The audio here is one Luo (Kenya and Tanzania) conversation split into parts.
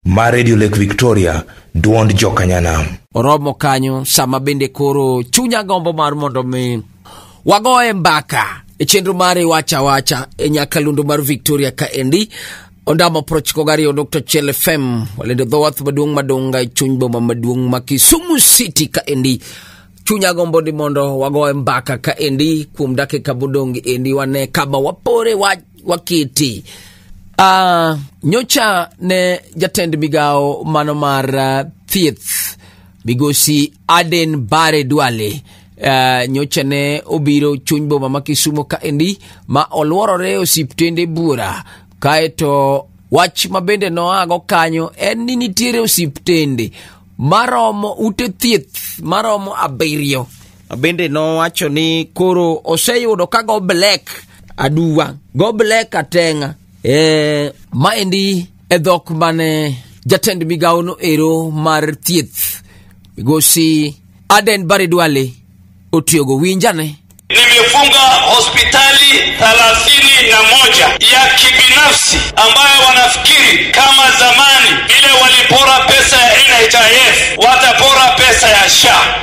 ma redio lake victoria duond jokanyanam oromo kanyo sama bende koro chunya gombo mar mondo mi wagoye mbaka e chenro mar iwacha wacha e nyakalundo mar victoria ka endi ondamo prochiko gariyo nukta chiel fm walendo dhowath maduong' madonga e chuny boma maduong' ma kisumu city ka endi chunya gombo ni mondo wagoye mbaka ka endi kuom dakika modong' endi wane kama wapore wach wa kiti uh, nyocha ne jatend migawo mano mar uh, thieth migosi aden bare dwale Uh, nyocha ne obiro chuny boma ma kisumo kaendi ma olworore osiptende bura kaeto wach ma bende noago kanyo en ni nitiere osiptende maromo ute thieth maromo abiriyo Bende nowacho ni koro oseyudo ka go black aduwa go black atenga e, maendi e dhok mane jatend migawo no ero mar thieth migosi Aden Barry Duale otiyogo winjane Nimefunga hospitali thelathini na moja ya kibinafsi ambayo wanafikiri kama zamani vile walipora pesa ya NHIF watapora pesa ya SHA.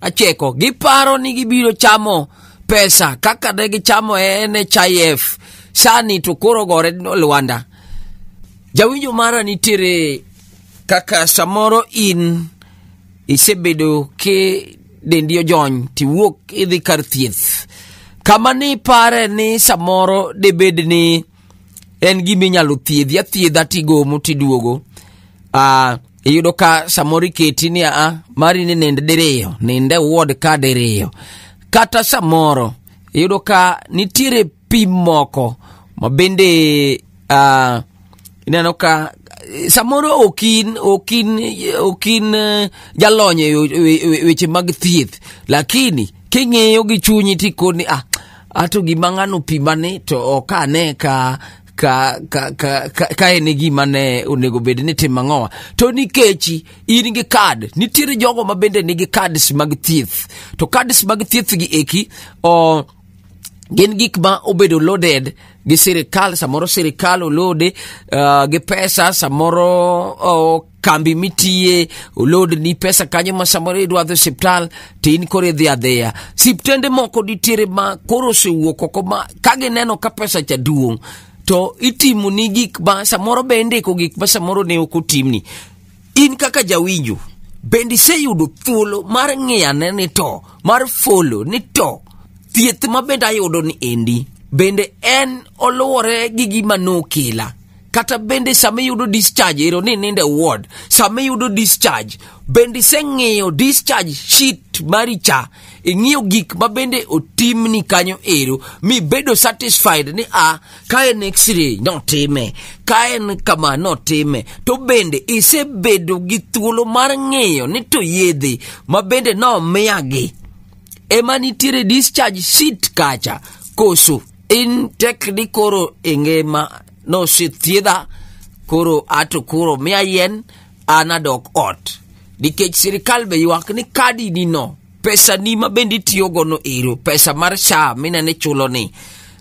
acheko giparo ni gibiro chamo pesa kaka ne gichamo e NHIF sani to koro gore lwanda jawinjo mara nitiere kaka samoro in isebedo ki dendi ojony tiwuok idhi kar thieth kama ni pare ni samoro debed ni en gima inyalo thiedhi athiedha tigomo tiduogo uh, iyudo ka samoro iketi ni a mari ni nind diriyo ninde wuod ka diriyo kata samoro iyudo ka nitiere pim moko ma bende uh, ineno ka samoro okin okin okin eh, jalony e yo- e- e- weche mag thieth lakini king'iyo gi chunyi tikoni ah ato gima ng'ano pimane to ok ane ka ka ka ka ka, ka en e gima ne onego bed ni timo ang'owa to nikech in gi kad nitiere jogo ma bende nigi kads mag thieth to kads mag thieth gi eki o gin gik ma obedo loaded gi sirikal samoro sirikal olode uh, gi pesa samoro uh, kambi mitiye olodni pesa kanyo ma samoro idwadho e siptal to in koro idhi adhiya siptende moko nitiere ma koro osewuok oko ma ka gineno ka pesa cha duong' to itimo ni gik ma samoro be indiko gik ma samoro ne ok otimni in kaka jawinjo bende iseyudo thuolo mar ng'iyane ni to mar folo ni to thieth ma bende ayudo ni endi bende en oluwore gi gima nokela kata bende sama iyudo discharge ero ni ninde ward sama iyudo discharge bende iseng'iyo discharge sheet mari cha ing'iyo gik ma bende otimni kanyo ero mi bedo satisfied ni a ka en x-ray notime ka en kama notime to bende isebedo gi thuolo mar ng'iyo ni to yedhe ma bende nomiyagi ema nitiere discharge sheet kacha koso in tek ni koro e ngima nosethiedha koro ato koro miya yien an adok ot nikech sirikal be ywak ni kadi ni no pesa ni ma bende itiyogo no ero pesa mar sha minene chulo ni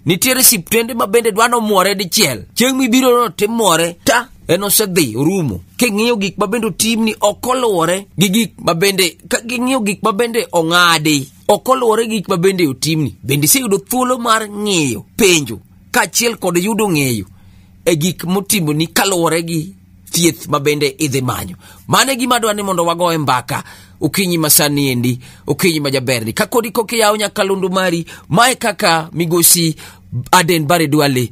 nitiere siptende ma bende dwa nomwore dichiel chieng' mibiro no timwore ta en osedhi orumo king'iyo gik ma bende otimni ok oluwore gi gik ma bende ka ging'iyo gik ma bende ong'adi ok oluwore gi gik ma bende otimni bende iseyudo thuolo mar ng'eyo penjo kaachiel kod yudo ng'eyo e gik motimoni kaluwore gi thieth ma bende idhi manyo mano e gima dwa ni mondo wagoye mbaka okinyi masani endi okinyi ma jaberni ka kodi kokiyawo nyaka lundu mari mae kaka migosi aden bare dwale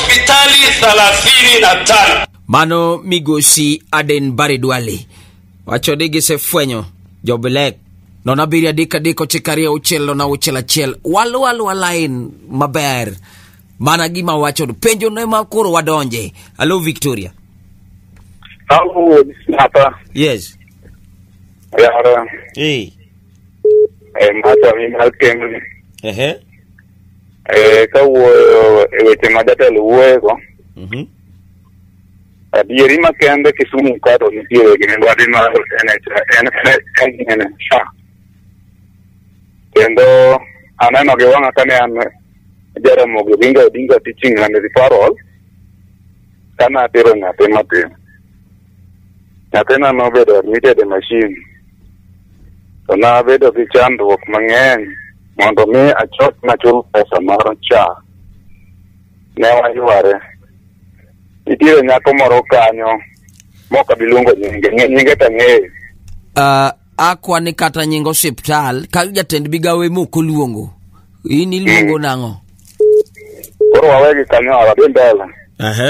hospitali thelathini na tano. Mano migosi Aden Bare Duale wacho ni gisefwenyo jobilek nono abiriyo adek adek ochiko ariyo auchiel nono auchiel achiel walu alwa lain maber mana gima wachono penjo ne ma koro wadonje alo victoria Halo, hapa yes yara hey. eh, mata mi malkemri ehe Eh, ka wuoyo e weche ma jatelo wuoyego Mhm. adieri makende kisumu kato nitiere gi mibadhi mar NHA kendo aneno gi wang'a kane an Jaramogi Oginga Odinga teaching and referral kana atero nyathi matin nyathina nobedo admitted e machine to nabedo gi chandruok mang'eny mondo mi achop nachul pesa mar cha ne wayware nitiere nyako moro kanyo mok abi luongo nyinge ng'e- nyinge to ang'eyo Ah, akwa ni kata nying osiptal ka jatend migawo ema ok oluongo in iluongo nang'o koro wawegi kanyo awadhi mbele Ehe.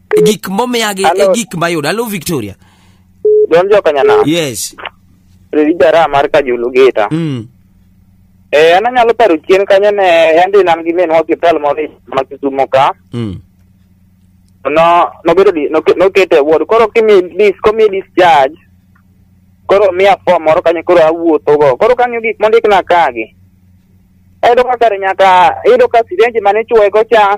E gik momiyagi e Hello. gik mayudo hello victoria Don Jokanyana, yes Riri Jara mar Kajulu Gita. mm. Eh, an anyalo paro chien kanyo ne yande nam gi minwa hospital moro e- ma Kisumo ka. Mm. No, nobedo di, noke- nokete ward. Koro kimi dis, komi discharge. Koro miya form moro kanyo koro awuotho go. Koro kang'iyo gik mondikna kagi. Ayudo ka kare nyaka, ayudo ka sirenji mane ichuoye go cha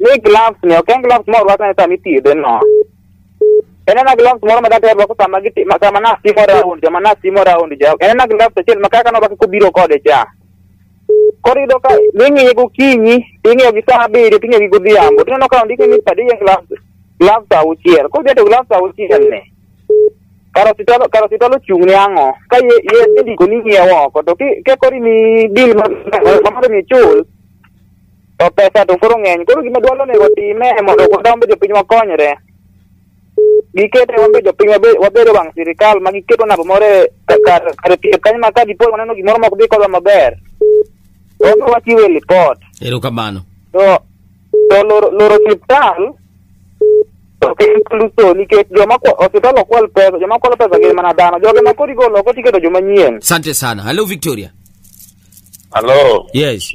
Ni gloves ni ok en gloves moro rwako ne sama ithiedhe no. En en gloves moro ma daktari rwako sama giti ma sama nas timo round joma nas timo round ja. En en gloves achiel ma kaka norwako kobiro kode cha. Koro iyudo ka ing'iye gokinyi, ing'iyo gi saa abiriyo, ting'iyo gi godhiambo. Tineno ka ondiki ni padi en gloves gloves auchiel. Koro idhi to gloves auchiel ni. Karositol karositol ochung' ne ang'o? Ka ye ye indiko ni ng'iewo oko to ki ke kori mi deal ma ma mondo mi chul to pesa to koro ng'eny koro gima dwaro ni watime mondo kata wambe jopiny wakonyre gikete wambe jopiny wabe- wabedo wang' sirikal ma giketo namba moro e- ka- kar kar thieth kanyo ma ka dipo ni waneno gimoro mok dhi kodwa maber to wambe wachiwe lipot Erokamano. to to loro loro osiptal ok en luso nikech joma kwa- osiptal ok kwal pesa joma kwalo pesa gin mana dhano joge ma koro igolo oko tiketo joma nyien Asante sana. Hello Victoria. Hello. Yes.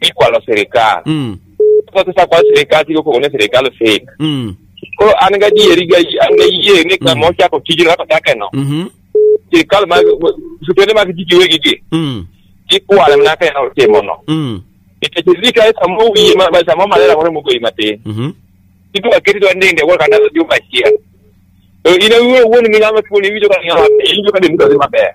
ikwalo sirikal Mm. koro sasa kwa sirikal tigo kogone sirikal fake Mm. koro an ga dieri ga an ga yie ni kama ochako tijno kaka kake no Mhm. sirikal mag supende mag tiji wegi gi Mm. ikwale mana kaka no timo no Mm. nikech sirikal samo wiye ma ma- samo malera kore mugo imatin Mhm. itu akiri to ndende wala kana dio machia ina uwe uwe ni ngama kuni wijo kana ngama injo kana mtu azima baya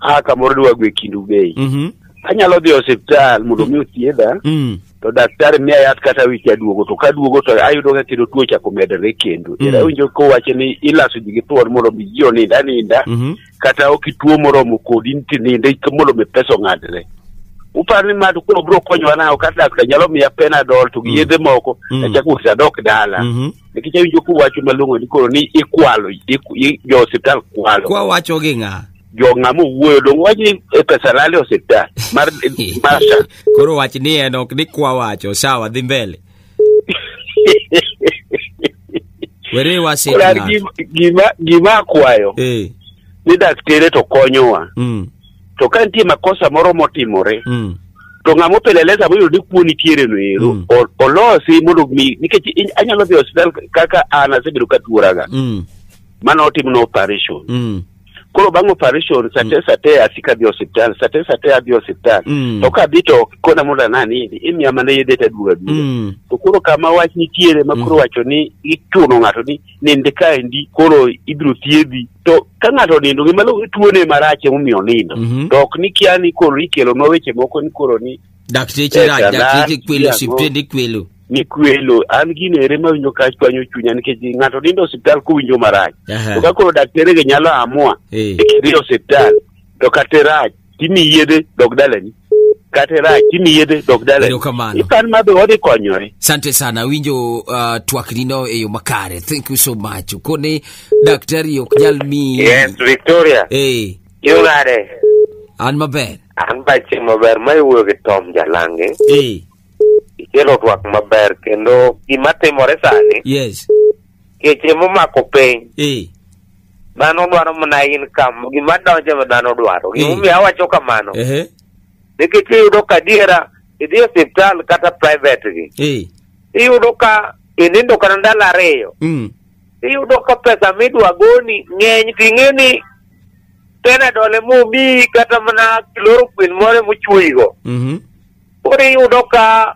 a kamoro dwa gwe kindu bei Mhm. anyalo dhi e osiptal mondo mi othiedha Mm. to daktari miya yath kata wich aduogo to kaduogo to ayudo ka kendo tuo chako medore kendo Mm. mm. awinjo kowacho ni ilaso ji gi thuon mondo mi ji onind aninda Mhm. kata ok ituo moromo kodi nti ninde ik- mondo mi pesa ong'adre uparo ni mad koro biro konyowa nayo kata daktar nyalo miya penadol to gi Mm. yedhe moko Mm. achako usadok dala Mhm. nikech awinjo kuwacho malong'o ni koro ni ikwalo iku- i- jo osiptal kwalo kwa wacho gi ng'a jo ng'a mowuoyo dong wach ni e pesa lal e osiptal mar mar sha koro wach ni en ok ni kwa wacho sawa dhi mbele were wasik Koro an ng'ato. gima- gima gima akwayo eh ni daktere to konyowa mm. to ka nitie makosa moro motimore Mm. to ng'ama opeleleza moyudo ni kuo nitiere no ero Mm. o- olosi mondo mi nikech in- anyalo dhi e hospital kaka an asebedo ka tuoraga Mm. mane otimna operation Mm. koro bang' operation sate sate asika adhi e hospital sate sate adhi e hospital Mm. to kadhi to ok kona mondo ananidi imiya mana yedhe taduoga duoga Mm. to koro kama wach nitiere ma koro wacho ni ichuno ng'ato ni nind kaendi koro ibiro thiedhi to ka ng'ato onindo gima luongo ni tuone marach emomiyo onindo Mhm. to ok ni kia ni koro ikelonwa weche moko ni koro ni dakteche Eh, rach Tanzania, dakteche kwelo Congo. osiptende kwelo ni kwelo an gino ere mawinjo ka chwanyo chunya nikech ng'ato nindo e osiptal kowinjo marach Aha. to ka koro dakterege nyalo amua Eh. ni kidhi e osiptal to kata irach timi yedhe dog dalani kata irach timi yedhe dog dalani Erokamano. ipan ma be wadhi konyore Asante sana, winjo uh, twaknino e yo makare. Thank you so much. Kone daktari ok nyal miyi. Yes, Victoria. Eh, Yo nade? an maber. An ba chieng' maber ma iwuoyo gi Tom Jalange. Eh, Ikelo twak maber kendo gima timore sani yes. keche momako piny Eh. dhano dwaro mana income gima donjo ma dhano dwaro Mm. gimomiyo awacho kamano Ehe. nikech iyudo ka adiera idhi e osiptal kata private gi Eh. iyudo ka inindo kata ndalo ariyo Mm. iyudo ka pesa midwa goni ng'eny to ing'e ni penadol emomiyi kata mana chloroquine moro emochuoyigo Mhm. Koro iyudo ka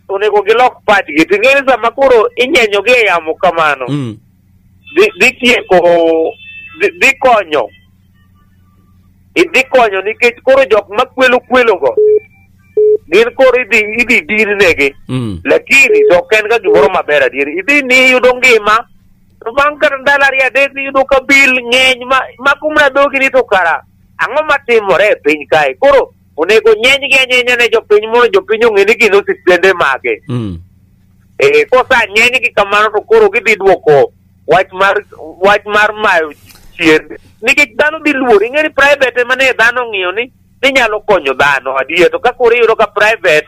onego gilok pachgi. To ing'eyo ni sama koro inyenyogi e yamo kamano, Mm. dhi dhi tieko dhi- dhi konyo idhi konyo nikech koro jok ma kwelo kwelogo gin koro idhi idhi dir negi Mm. lakini to ok en ga gimoro maber adier idhi ni yudo ngima to bang' kata ndalo ariyo adek niyudo ka bil ng'eny ma ma kumra dhogi ni to kara ang'o matimore e piny kae koro onego nyenygi anyenya ne jopiny mondo jopiny ong'e ni gin osiptende mage Mm. Eh, kosa nyenygi kamano to koro gidhi dwoko wach mar wach mar mayo chien nikech dhano dhi luor ing'e ni private ema ne dhano ong'iyo ni ninyalo konyo dhano adier to ka koro iyudo ka private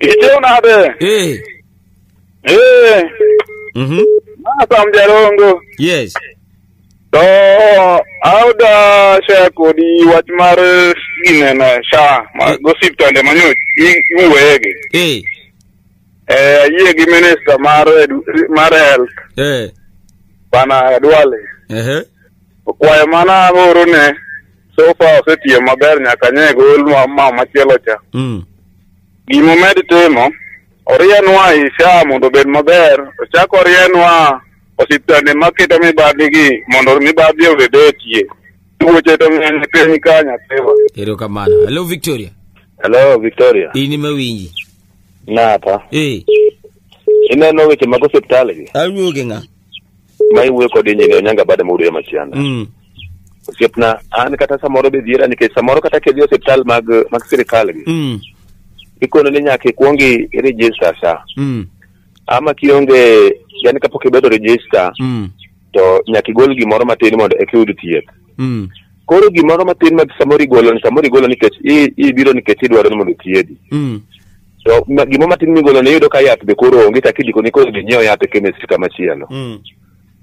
Ijo nade. Eh. Eh. Mhm. Masa mjarongo. Yes. To auda share kodi wach mar gineno sha ma gosiptande manyo iwege. Eh. Eh yie gi minister mar edu- mar health Eh. bana Duale. Ehe. Kwayo mana agoro ne so far osetiyo maber nyaka nye gol ma ma machielo cha. Mm. Gima omed timo, orienwa Isha mondo obed maber, ochak orienwa osiptande maketo mibadhigi mondo mibadhi obed etie. Tuoche to ng'eny e piny ka nyathiwa. Erokamano. Hello Victoria. Hello, Victoria. In ema winji. Napa. Eh, Ineno weche mag osiptal gi? awuoge ng'a? ma iwuoyo kod injini onyanga bada ma udweye machianda Mm. osiepna an kata samoro be dhiera nikech samoro kata kidhi e osiptal mag mag sirikal gi Mm. ikono ni nyaka ikwong i- i-register sa Mm. ama kionge yani kapok ibedo register Mm. to nyaka igol gimoro matin mondo eka iyud thieth Mm. koro gimoro matin ma samoro igolo ni samoro igolo nikech i- ibiro nikech idwaro ni mondo othiedhi Mm. to ma- gima matin migolo ne iyudo ka yath be koro onge kaka idiko ni koro ginyiew yath e chemist kama chielo Mm.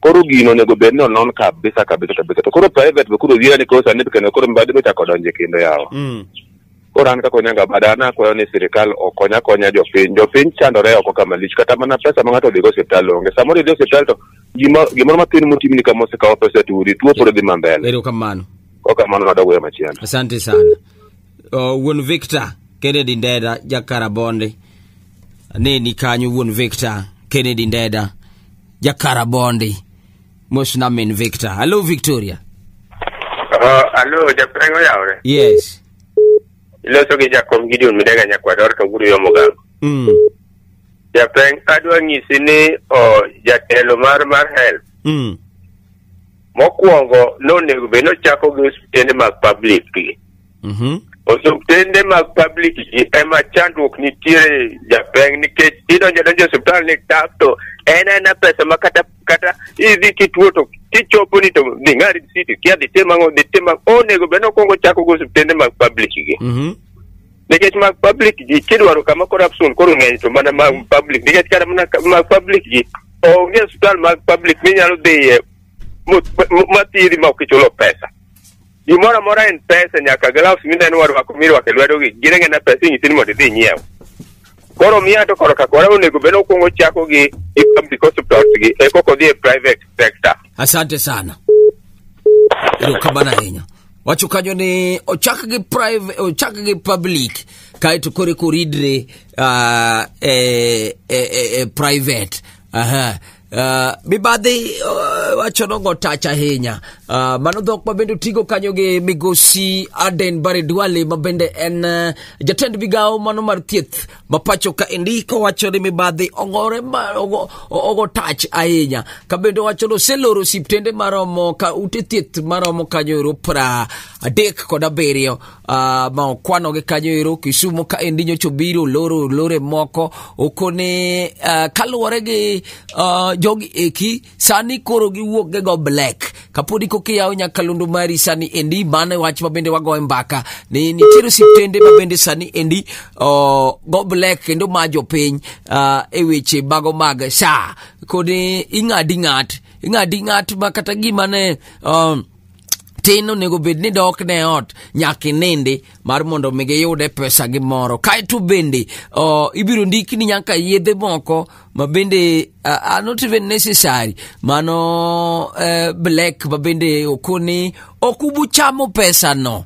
koro gino onego bed ni onon kabisa kabisa kabisa to koro private be koro wiya ni koro sani kendo koro mibadhi be chako donje kendo yawa Mm. koro an kaka onyanga bada an akwayo ni sirikal okonya konya jopiny jopiny chandore oko kama lich kata mana pesa ma ng'ato odhigo osiptal onge samoro idhi osiptal to gima- gimoro matin motimni kama osekawo pesa tuudi tuo pod dhi mambele Erokamano. okamano nadogoyo machielo Asante sana. uh, wuon victor kennedy ndeda jakarabonde aneni kanyo wuon victor kennedy ndeda jakarabonde mos namin victor hallo victoria Oh, alo, japreng oyawre. yes Iloso gi Jakom Gideon Midega Nyakwador to guru yomo gang. mm. Japreng adwa nyisi ni oh, jatelo mar mar health Mm. mokwongo nonego bed nochako gi osiptende mag public gi Mhm. osiptende mag public gi ema chandruok nitiere japeng nikech idonjo donjo e osiptal ni tap to en ena pesa ma kata kata idhi kituo to kichopo ni to dhi ng'a risiti kia dhi tim ang'o dhi tim ang'o onego bed nokwongo chako gi osiptende mag public gi Mhm. nikech mag public ji kidwaro kama corruption koro ng'eny to mana mag public nikech kata mana ka- mag public ji onge hospital mag public minyalo dhiye mo- mo- mathiedhi ma ok ichulo pesa gimoro amora en pesa nyaka gloves mineno warwako mirwako e lwedogi gin ang'e na pesa inyisi ni mondo idhi inyiew koro miya to koro kakora onego bed ni okwongo chako gi gi public hospitals gi e koko dhi e private sector asante sana erokamano ahinya wacho kanyo ni ochak gi private ochak gi public kaeto koro eko ridre uh, e, e, e, e private aha Uh, mibadhi uh, wacho nogo tach ahinya uh, mano dhok ma bende otigo kanyo gi migosi aden bare dwale ma bende en uh, jatend migawo mano mar thieth mapacho ka indiko wacho ni mibadhi ogore ma- ogo- ogo tach ahinya kabende wacho ni oseloro osiptende maromo ka ute thieth maromo kanyo ero pra adek kod abiriyo ah, ma okwanogi kanyo ero kisumo ka endi nyocha obiro oloro olore moko okone ah, kaluwore gi ah, jogi eki sani koro giwuok gi go black kapodi koki yawo nyakalondo mari sani endi mano e wach ma bende wagoye mbaka ni nitiere osiptende ma bende sani endi oh, go black kendo ma jopiny uh, e weche mago mag sha kodi ing'adi ng'at ing'adi ng'at ma kata gima ne um, tin onego bed ni dok ne ot nyaka inindi mar mondo mi giyude pesa gi moro kaeto bende uh, ibiro ndiki ni nyaka yedhe moko ma bende uh, are not even necessary mano uh, black ma bende okoni ok ubuchamo pesa no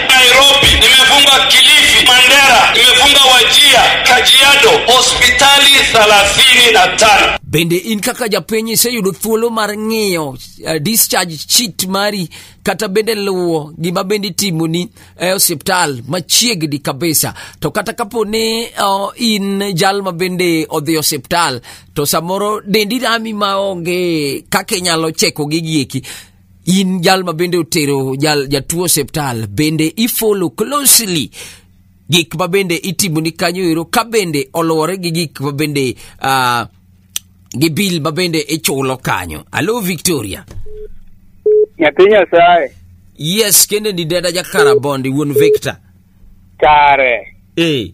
Nairobi, nimefunga Kilifi, Mandera, nimefunga Wajia, Kajiado, hospitali thelathini na tano. Bende in kaka japiny iseyudo thuolo mar ng'iyo uh, discharge sheet mari kata bende luwo gima bende itimoni e osiptal machiegni kabisa. To kata kapo ni uh, in jal ma bende odhi osiptal to samoro dendi rami maonge kaka inyalo cheko gigi eki in jal ma bende otero jal jatuo osiptal bende ifolo closely gik ma bende itimoni kanyo ero ka bende oluwore gi gik ma bende uh, gi bil ma bende ichulo kanyo alo victoria nyathi nyasaye yes kende ni dada jakarabondi wuon victor kare e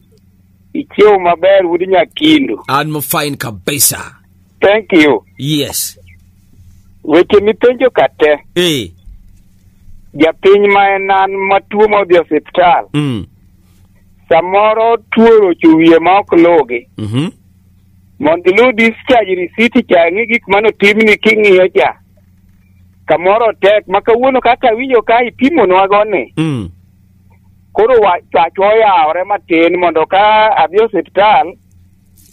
ichiew maber wuod nyakindu an mafine kabisa Thank you. Yes. Weche mipenjo ka te, Eh. japiny ma en an matuo modhi e osiptal, Mm. samoro tuo rocho wiye ma ok lugi. Mhm. Mondo ilu discharge receipt cha ing'i gik mane otimni king'iyo cha. Kamoro tek ma kawuono kaka winjo ka ipimonwa goni. Mm. Koro wa- pachwa oyawore matin mondo ka adhi e osiptal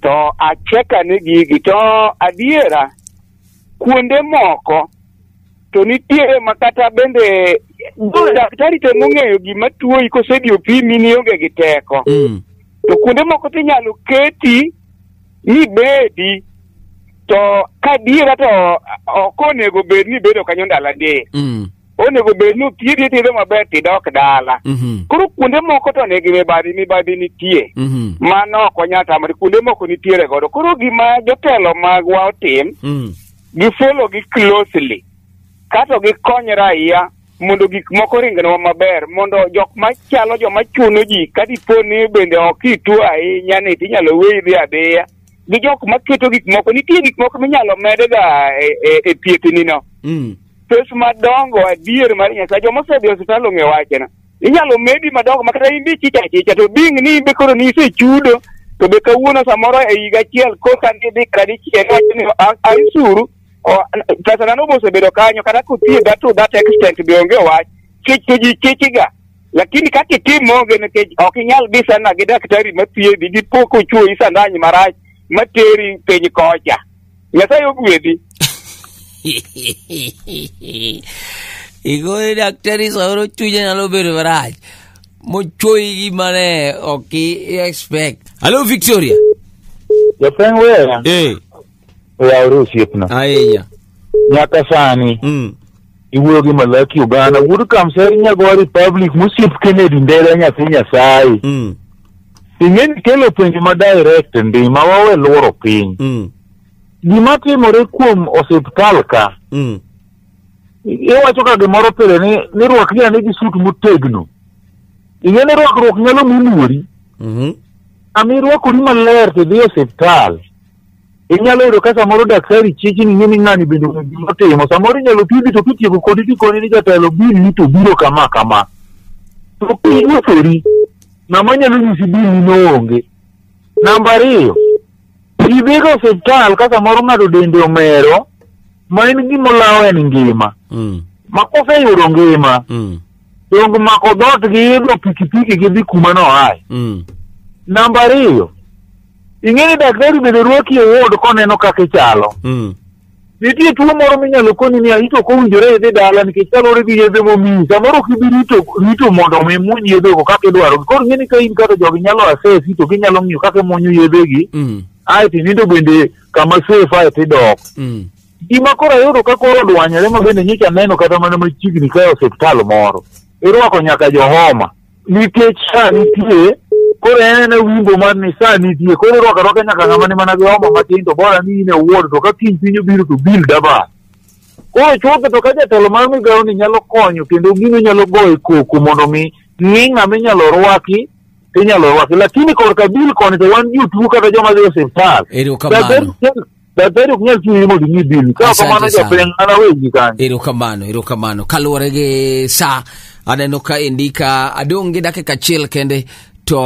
to acheka ni gigi to adiera kuonde moko to nitiere ma kata bende daktari temo ng'eyo gima tuoyi kosedi opimi ni onge gi teko Mm. to kuonde moko to inyalo keti mibedi to kadiera to ok onego bed ni ibedo kanyo ndalo adek Mm. onego bed ni thiedhi ithiedho maber tidok dala Mhm. koro kuonde moko to nigi mibadhi mibadhi nitie Mhm. mano ok wanyal tamore kuonde moko nitiere godo koro gima jotelo magwa otim Mm. gifolo gi closely kato gikony raia mondo gik moko ringnwa maber mondo jok machalo joma chuno ji ka dipo ni bende ok itu ahinya ni tinyalo weyi dhi adhiya gi jok ma keto gik moko nitie gik moko minyalo medega e, e, e thiethnino Mm. pes madongo adier mar nyasaye joma osedhi e osiptal ong'e wachena inyalo medi madongo ma kata in be ichicha achicha to ding ni in be koro ni isechudo to be kawuono samoro e higa achiel koka ni dhi kata dichiel wacho ni "A- aisuru o- pesa nano be osebedo kanyo kata kothiedha to that extent be onge wach kech to ji kechiga lakini kaka itim onge nikech ok inyal dhi sana gi daktari mathiedhi gi pok ochuoyi sandanyi marach materi piny kocha nyasaye ogwedhi igoyo daktari samoro chunye nyalo bedo marach mochuoyi gi mane ok i expect hallo victoria Japeng wewe. eh oyawore osiepna ahinya nyaka sani mm. iwuoyo gi malaki ogana wuod kamseri nyagowa republic mosiep kennedy ndera nyathi nyasaye Mm. ing'e ni kelo penjo ma direct ndi ma wawe lworo piny Mm. gima timore kuom osiptal ka Mm. iwacho ka gimoro pile ni ni rwak ni ane gi sut motegno ing'e ni rwakruok nyalo munuori Mhm. ami irwakori maler tidhi e osiptal inyalo yudo ka samoro daktari chiki ni ng'eni ng'ani bende ong'e gima otimo samoro inyalo thiedhi to kitieko kodi tikoni ni jatelo bilni to biro kama kama to kinyosori ng'ama nyalo nyisi bilni noonge namba ariyo idhigo osiptal ka samoro ng'ato dende omero ma en gimolawo en ngima Mm. ma koseyudo ngima Mm. donge mako dhoot gi idho pikipiki gidhi kuma noaye Mm. namba ariyo ing'e ni daktari bende rwaki e ward koneno kaka ichalo Mm. nitie tuo moro minyalo koni ni ahito ok owinjore idhi dala nikech kaluwore gi yedhe momiyi samoro ok ibi rito rito mondo omi muony yedhego kaka idwarogi koro ing'e ni ka in kaka jogi nyalo asesi to ginyalo ng'iyo kaka imuonyo yedhegi Mm. ae to inindo bende kama safe ae to idok Mm. gima koro ayudo ka koro odwanyore ma bende nyicha neno kata mana machiegni kae osiptal moro irwako nyaka johoma nikech sa nitie koro en e wimbo mar ni sa nitie koro irwako arwaka nyaka ng'ama ni mana gi homa matin to bora ni in e wuon to ka kiny piny obiro to bil daba koro chutho to ka jatelo mar migawo ni nyalo konyo kendo gino nyalo goyo koko mondo mi ni ng'ama inyalo rwaki to inyalo rwaki lakini korka bil koni to wan jotuo kata joma dhi e osiptal Ero kamano. da ber ok nyal ting'i mondo ing'i bill ka ok kamano japiny an awegi kanyo erokamano erokamano kaluwore gi sa aneno ka endi ka adong' gi dakika achiel kende to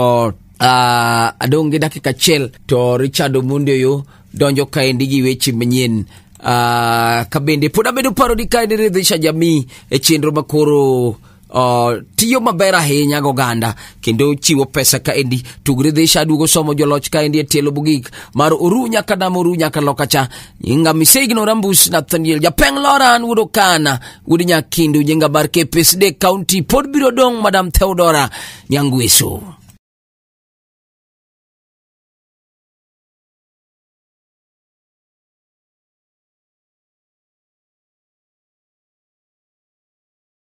uh, adong' gi dakika achiel to richard omundi oyo donjo ka endi gi weche manyien uh, ka bende pod abedo paro ni ka endi ridhisha jamii e chenro makoro Uh, tiyo maber ahinya goganda kendo chiwo pesa kaendi tugre dhisha aduogo somo joloch kaendi e tielo bugik mar oru nyaka dam oru nyaka loka cha nyinga misegno rambus nathaniel japeng loran wuod okana wuod nyakindu nyinga bar kepesde county pod biro dong madam theodora nyangweso